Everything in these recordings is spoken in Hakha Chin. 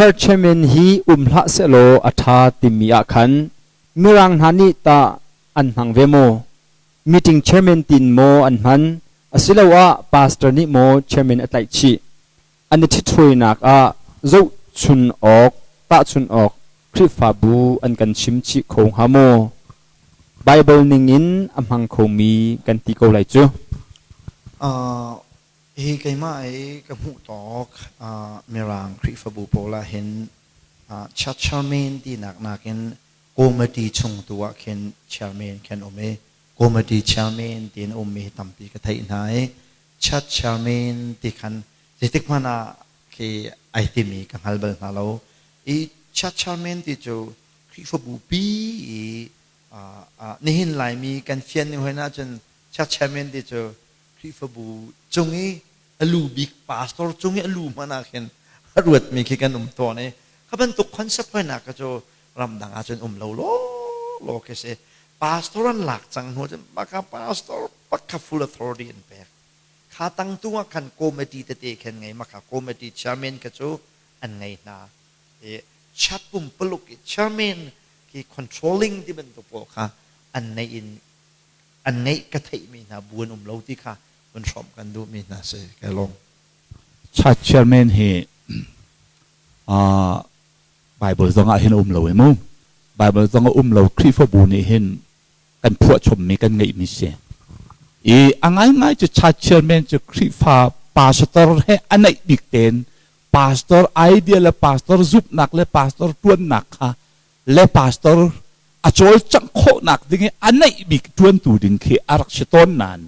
Churchman hi um hlah sehlaw a ṭha timi ah khan Mirang hna nih tah an hmang ve maw? Meeting chairman tin maw an hman asiloah pastor nih maw chairman a tlaih chih? An i ṭhithruainak ah zohchun awk, tahchun awk Khrihfabu an kan chim chih kho hnga maw? Baibal ningin a hmang khomi kan ti ko lai cu. Hi keimah i ka hmuh tawk uh, Mirang Khrihfabu pawl ah hin uh, church chairman tinak nakin committee chung tu ah khin chairman kan um i committee chairman tiin ummi tampi ka theih hna i church chairman ti khan zeitik hmanh ah khi ai timi ka hngal bal hna lo i church chairman ti cu Khrihfabu pi i uh, uh, nihin laimi kan fian ni hoin ahcun church chairman ti cu Khrihfabu cung i a lu bik pastor cung i a lu hmanh ah khin a ruatmi khi kan um tawn i kha bantuk concept hoinak kha cu ramdang ah cun um lo lawlaw khi si pastor an lak cang hnu cun baka pastor pakha full authority an pek kha tangtu ah khan committee tete khen ngei maka committee chairman kha cu an ngei hna i chat pumpuluk i chairman khi controlling ti bantuk pawl kha an neih in an ngeih ka theihmi hna bu an um lo ti kha vun hrawmh kan duhmi hna si ka lawm. Church chairman hi uh, Bible zong ah hin um lo mu Bible zong ah um lo Khrihfabu nih hin kan phuahchommi kan ngeihmi si i a ngaingai cu church chairman cu Khrihfa pastor he a naih bik tein pastor idea le pastor zumhnak le pastor tuannak kha le pastor a cawlcangh khawhnak ding i a neih bik ṭuantu ding khi a rak si tawn nain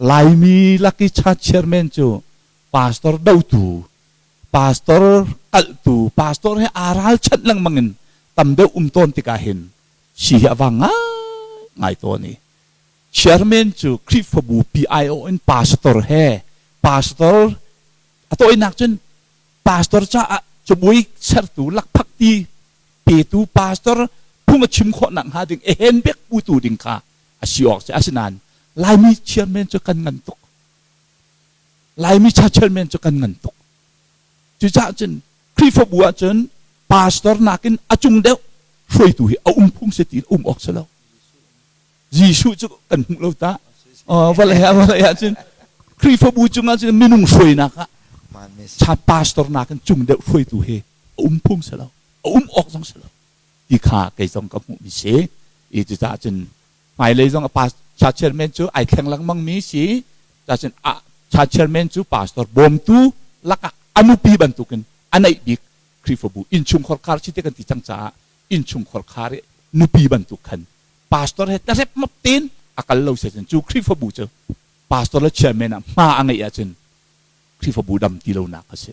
Laimi laki cha chairman cu pastor dotu, pastor kalhtu, pastor he aa ralchanh lengmang in tam deuh um tawn tikah hin si hi a va ngai tawn i chairman cu Khrihfabu PIO in pastor he pastor a tawinak cun pastor caah cabuai sertu lakphakti petu pastor phung a chim khawh nak hnga ding ehen bek putu ding kha asi awk si asinain laimi chairman cu kan ngan tuk laimi cha chairman cu kan ngan tuk cucaah cun Khrihfabu ah cun pastor nakin a cung deuh hruaitu hi a um phung si ti um awk si lo Jesuh cu kan hmuh lo ta vale ah vale ah cun Khrihfabu cungah cun minung hruainak ah cha pastor nakin cung deuh hruaitu hi a um phung si lo, a um awk zong si lo ti kha kei zong ka hmuhmi si i cucaah cun hmailei zong a pa cha chairman cu ai thleng lengmang mi si cacun a cha chairman cu pastor bawmtu lakah a nupi bantukin a neih bik Khrihfabu innchungkhar khar si te kan ti cang caah innchungkhar khar i nupi bantuk khan pastor he tarep map tein a kal lo se cu Khrihfabu cu pastor le chairman ah hma a ngeih ahcun Khrihfabu dam ti lonak a si